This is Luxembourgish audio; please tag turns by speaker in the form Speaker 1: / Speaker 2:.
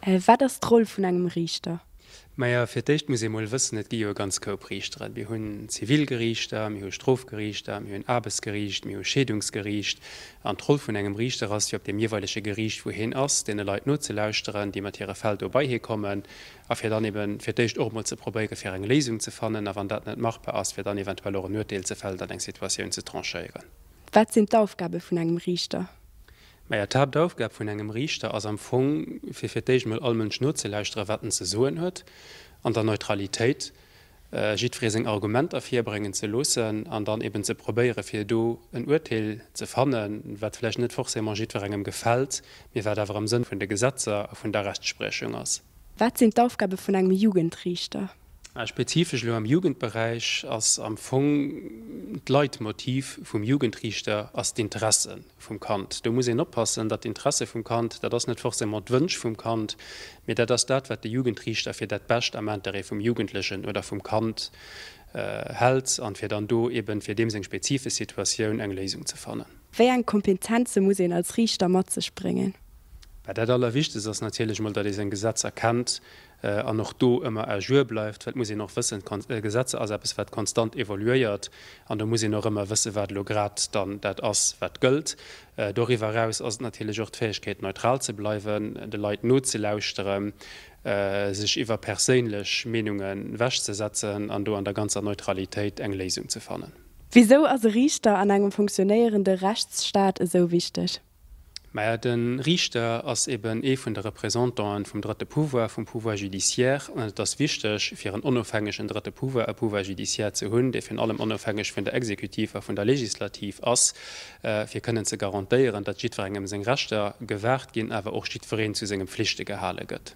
Speaker 1: Wat ass d'Roll vun engem Riichter? Majo, fir d'éischt
Speaker 2: muss ee mol wëssen, et gi jo e ganz Koup Riichteren. Mir hunn Zivilgeriichter, mir hu Strofgeriichter, mir hunn Aarbechtsgeriicht, mir hu Scheedungsgeriicht. An d'Roll vun engem Riichter ass jo, op deem jeeweilege Geriicht, wou hien ass, deene Leit nozelauschteren, déi mat hire Fäll do bei hie kommen, a fir dann eeben fir d'éischt och emol ze probéiere fir eng Léisung ze fannen, a wann dat net machbar ass, fir dann eventuell och en Urteel ze fällen an eng Situatioun ze tranchéieren. Wat sinn
Speaker 1: d'Aufgabe vun engem Riichter? Maja,
Speaker 2: d'Haaptaufgab vun engem Riichter ass am Fong, fir fir d'éischt emol all Mënsch nozelauschteren, wat en ze soen huet, an der Neutralitéit jiddweree seng Argumenter virbréngen ze loossen an dann eben ze probéieren, fir do en Urteel ze fannen, wat vläicht net forcément jiddwerengem gefält, mee wat awer am Sënn vun de Gesetzer a vun der Rechtspriechung ass. Wat sinn d'Aufgabe
Speaker 1: vun engem Jugendriichter? Spezifesch
Speaker 2: elo am Jugendberäich ass am Fong d'Leitmotiv vum Jugendriichter ass d'Interesse vum Kand. Do muss een oppassen, datt d'Interesse vum Kand, dat ass net forcément d'Wënsch vum Kand, mee dat ass dat, wat de Jugendriichter fir dat Bescht am Intérêt vum Jugendlechen oder vum Kand hält an fir dann do eben fir deem seng spezifesch Situatioun eng Léisung ze fannen. Wéi eng Kompetenze
Speaker 1: muss een als Riichter mat sech bréngen? Dat
Speaker 2: Allerwichtegst ass natierlech emol, datt ee seng Gesetzer kennt an och do ëmmer à jour bleift, well et muss een och wëssen, d'Gesetzer ass eppes wat konstant évoluéiert an do muss een och ëmmer wëssen, wat elo grad dann dat ass wat gëllt. Doriwwer eraus ass et natierlech och d'Fäegkeet neutral ze bleiwen, de Leit nozelauschteren, sech iwwer perséinlech Meenunge wech ze setzen an do an der ganzer Neutralitéit eng Léisung ze fannen. Wisou ass e
Speaker 1: Riichter an engem funktionéierende Rechtsstaat esou wichteg? Mä de
Speaker 2: Riichter ass eben ee vun de Représentanten vum drëtte Pouvoir, vum Pouvoir judiciaire, an et ass wichteg, fir en onofhängegen drëtte Pouvoir, e Pouvoir judiciaire ze hunn, dee virun allem onofhängeg vun der Exekutiv a vun der Legislativ ass, fir kënnen ze garantéieren, datt jiddwerengem seng Rechter gewahrt ginn, awer och jiddwereen zu senge Pflichte gehale gëtt.